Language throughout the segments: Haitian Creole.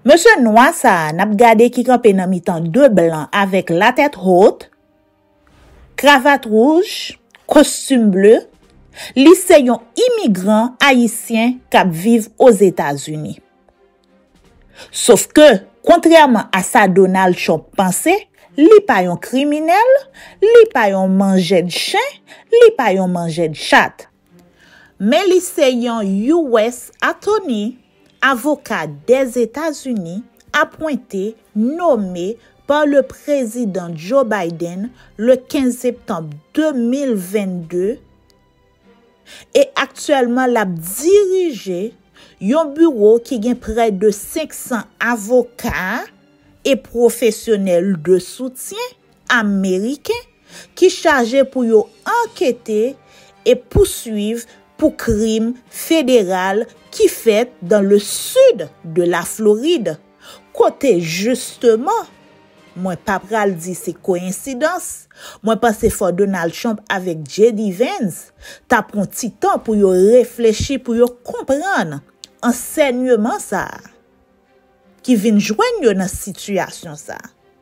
Mesye nwa sa a n ap gade ki kanpe nan mitan de blan avèk latèt hot, kravat wouj, kostim ble, li se yon imigran ayisyen k ap viv Ozetazini. Sofke, kontrèman a sa Donald Trump panse, li pa yon kriminèl, li pa yon manjèd chen, li pa yon manjèd chat. Men li se yon US. Atoni, Avoka dè Etazini, apwente, nome, pa le Prezidan Joe Biden le 15 septanm 2022 e aktyèlman lap dirije yon biwo ki gen prè de 500 avoka e pwofesyonèl de soutyen. Ameriken ki chaje pou yo ankete e pouswiv pou krim federal ki fèt dan le sid de la Florid, kote jisteman, mwen pa pral di se koyensidans, mwen panse fò Donald Trump avèk JD Vance ta pran ti tan pou yo reflechi pou yo konprann ansènyeman sa a ki vin jwenn yo nan sitiyasyon sa a.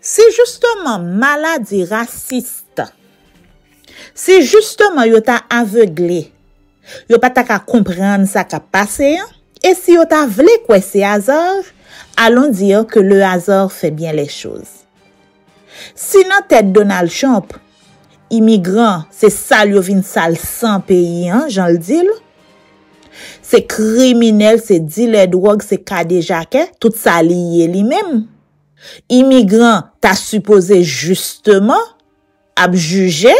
Si jisteman maladi rasist, si jisteman yo ta avegle, yo pa ta ka konprann sa k ap pase an, e si yo ta vle kwè se azar, alon dire ke le azar fè byen lè choz. Si nan tèt Donald Trump, Imigran se sal yo vin sal san peyi an jan l di l. Se kriminèl, se dilè dwòg, se kadejakè, tout sa li ye li menm. Imigran ta sipoze jisteman ap jije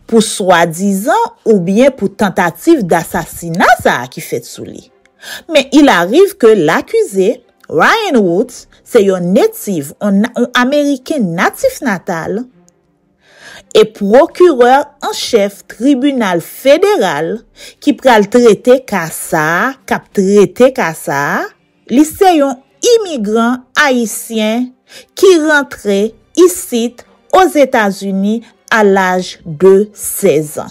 pou swadizan oubyen pou tantativ dasasina sa a ki fèt sou li. Men il ariv ke lakize Ryan Woods se yon native, yon Ameriken natif natal, e pwokirè an chèf tribinal federal ki pral trete ka sa a, k ap trete ka sa a, li se yon imigran ayisyen ki rantre isit Ozetazini a laj de 16 an.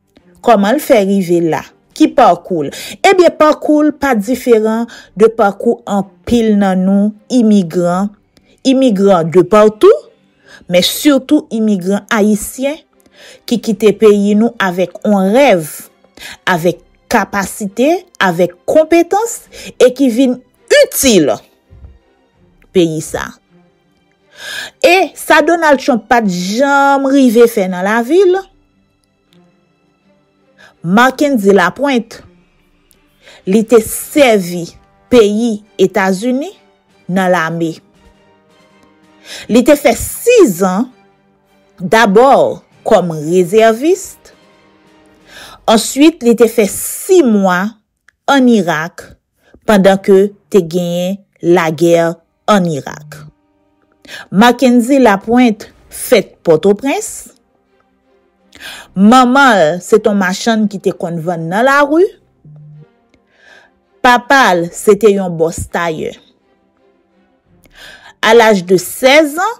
Kòman l fè rive la? Ki pakou l? Ebyen pakou l pa diferan de pakou anpil nan nou imigran, imigran de patou, men sitou imigran ayisyen ki kite peyi nou avèk on rèv, avèk kapasite, avèk konpetans e ki vin itil peyi sa. E sa Donald Trump pat janm rive fè nan lavi l, Marckendy Lapointe, li te sèvi peyi Etazini nan lame. Li te fè 6 an dabò kòm rezèvis, answit li te fè 6 mwa an Irak pandan ke te genyen lagè an Irak. Mackendy Lapointe fèt Pòtoprens. Manman l se t on machann ki te konn vann nan lari. Papa l se te yon bòs tayè. A laj de 16 an,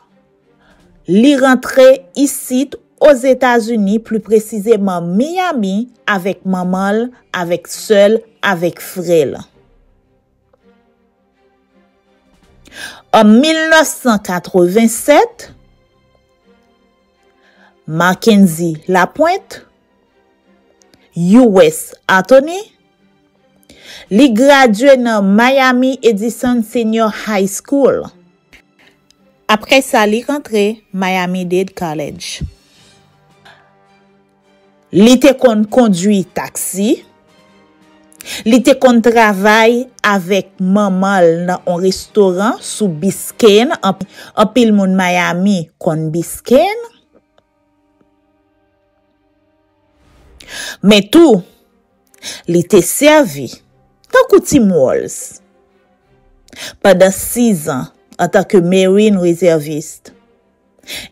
Li rantre isit, Ozetazini, pli presizeman Miyami, avèk manman l, avèk sè l, avèk frè l. An 1987, Mackendy Lapointe. US. Atoni. Li gradye nan Miami Edison Senior High School. Apre sa li rantre Miami-Dade College. Li te konn kondwi taksi. Li te konn travay avèk manman l nan on restoran sou Biscayne, anpil moun Miami konn Biscayne. Men tou, li te sèvi tankou Tim Walz pandan sizan antanke Marine Reserviste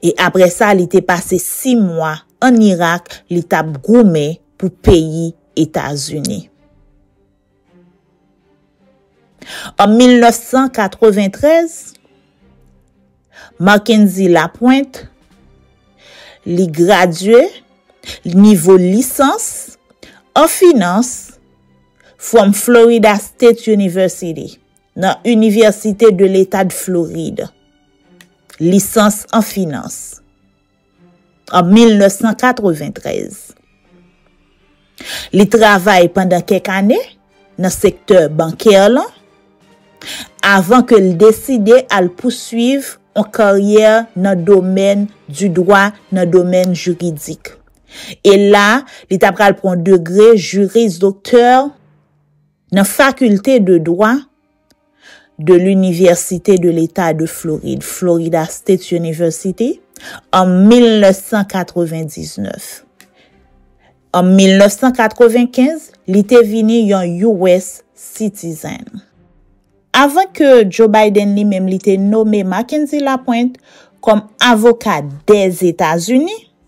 e apre sa li te pase si mwa ann Irak li t ap goumen pou peyi Etazini. An 1993, Marckendy Lapointe, li gradye, nivo lisans, an finans, from Florida State University, nan Inivèsite de Leta de Floride. Lisans an finans. an 1993. Li travay pandan kèk ane nan sektè bankè lan avan ke l deside al pouswiv on karyè nan domèn di dwa, nan domèn jiridik. E la, li ta pral pran degre juris docteur nan fakilte de dwa, de l'Université de l'État de Floride, Florida State University, an 1999. An 1995, li te vini yon US Citizen. Avan ke Joe Biden li menm li te nome Mackenzie Lapointe kòm avoka dè Etazini,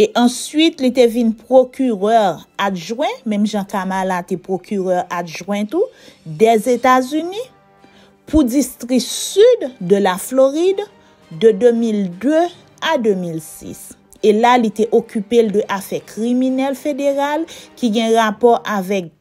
E answit li te vin pwokirè adjwen, menm jan Kamala te pwokirè adjwen tou, Dèzetazini, pou distri Sid de la Florid de 2002 a 2006. E la li te okipe l de afè kriminèl federal ki gen rapò avèk.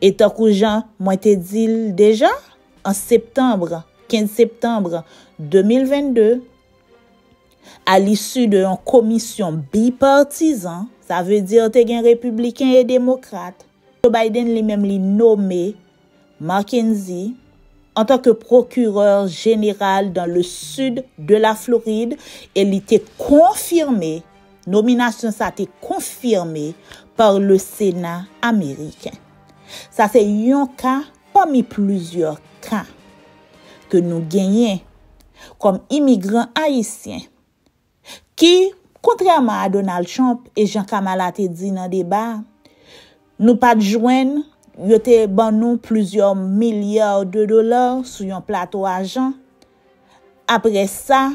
E tankou jan mwen te di l deja, an septanm, 15 septanm, 2022, a lisu de yon komisyon bipartizan, sa vle di te gen repibliken e demokrat, Joe Biden li menm li nome McKenzie an tan ke pwokirè jeneral dan le sid de la Florid e li te konfime Nominasyon sa te konfime par le Sena ameriken. Sa se yon ka pami plizyè ka ke nou genyen kòm imigran ayisyen ki, kontrèman a Donald Trump e jan Kamala te di nan deba, nou pa t jwenn, yo te ban nou plizyè milyar de dolar sou yon plato ajan, Apre sa,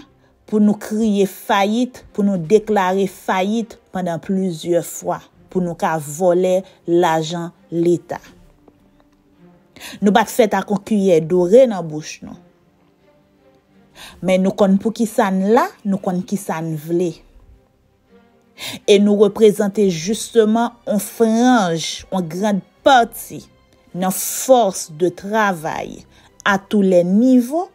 pou nou kriye fayit, pou nou deklare fayit pandan plizyè fwa, pou nou ka vòlè lajan Leta. Nou pa t fèt ak yon kiyè dore nan bouch nou. Men nou konn pou kisa n la, nou konn kisa n vle. E nou reprezante jisteman yon franj, yon gran pati nan fòs de travay a tou lè nivo,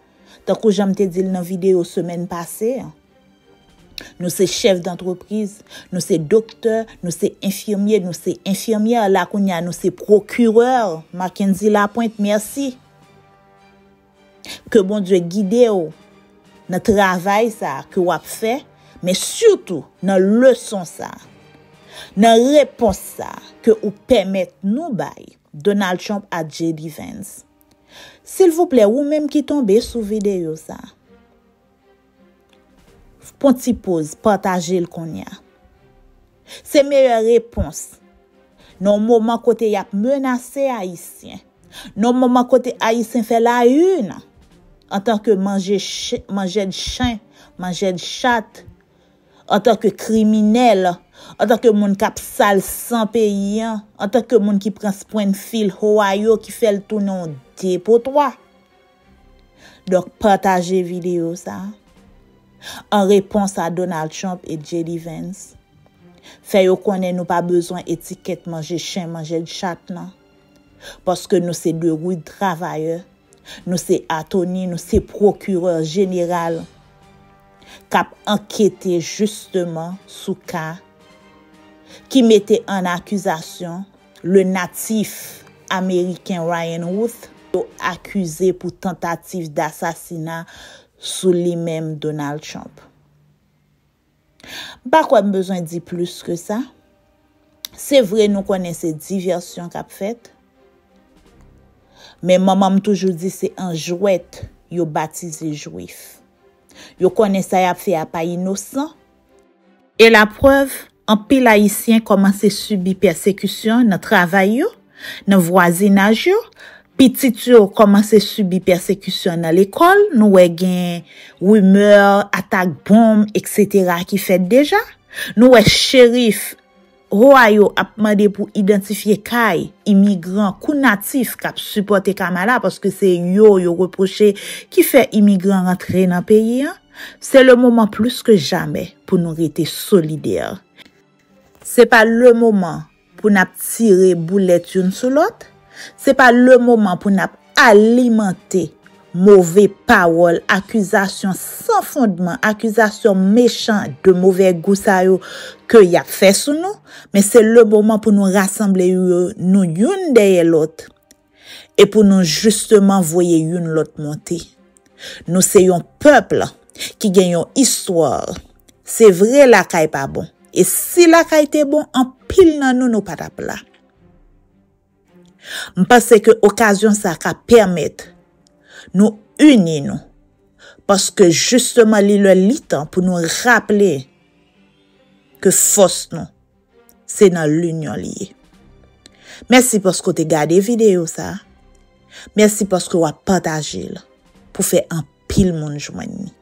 tankou jan m te di l nan videyo semèn pase an. Nou se chèf dantrepriz, nou se doktè, nou se enfimye, nou se enfimyè, la kounye a nou se pwokirè, Mackendy Lapointe, mèsi. Ke Bondye gide w nan travay sa ke w ap fè, men sitou nan leson sa. Nan repons sa ke ou pèmèt nou bay Donald Trump ak JD Vance. Silvouplè ou menm ki tonbe sou videyo sa. Fpon ti poz pataje l konnya. Se meyè repons nan moman kote yap menase ayisyen nan moman kote ayisyen fè la yn antan ke manje manjèd chen manjèd chat antan ke kriminèl antan ke moun kap sal san peyi an antan ke moun ki pran sprenfil hoa yo ki fèl tounen yon depotwa. Donk pataje video sa. An repons a Donald Trump et JD Vance. Fè yo konnen nou pa bezwen etikèt manje chen manjed chat nan. Paske nou se de rude travayè. Nou se atoni, nou se prokirè jeneral. Kap ankete jisteman sou ka. Ki mete an akizasyon. Le natif ameriken Ryan Routh yo akize pou tantativ dasasina sou li menm Donald Trump. M pa kwè m bezwen di plis ke sa. Se vre nou konnen se divèsyon k ap fèt, men manman m toujou di se an jwèt yo batize jwif. Yo konnen sa y ap fè a pa inosan. E la prèv, anpil Ayisyen kòmanse sibi pèsekisyon nan travay yo, nan vwazinaj yo, pitit yo kòmanse sibi pèsekisyon nan lekòl, nou wè gen rimè, atak bonm, eksetera ki fèt deja, nou wè cherif, Hoa yo ap mande pou idantifye kay imigran kou natif k ap sipòte Kamala paske se yo yo repwoche ki fè imigran rantre nan peyi an. Se le moman plis ke jamè pou nou rete solidè. Se pa le moman pou n ap tire boulèt youn sou lòt. Se pa le moman pou n ap. Alimante move pawòl, akizasyon san fondman, akizasyon mechan de move gou sa yo ke y ap fè sou nou, men se le moman pou nou rasanble nou youn dèyè lòt e pou nou jisteman voye youn lòt monte. Nou se yon pèple ki gen yon histoire. Se vre lakay pa bon e si lakay te bon anpil nan nou nou pa t ap la. M panse ke okazyon sa ka pèmèt nou ini nou, paske jisteman li lè li tan pou nou raple ke fòs nou se nan linyon li ye. Mèsi paske w te gade videyo sa, mèsi paske wap pataje l pou fè anpil moun jwenn ni.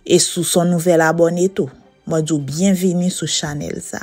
E si w son nouvèl abòne tou, mwen di w byenvini sou chanèl sa.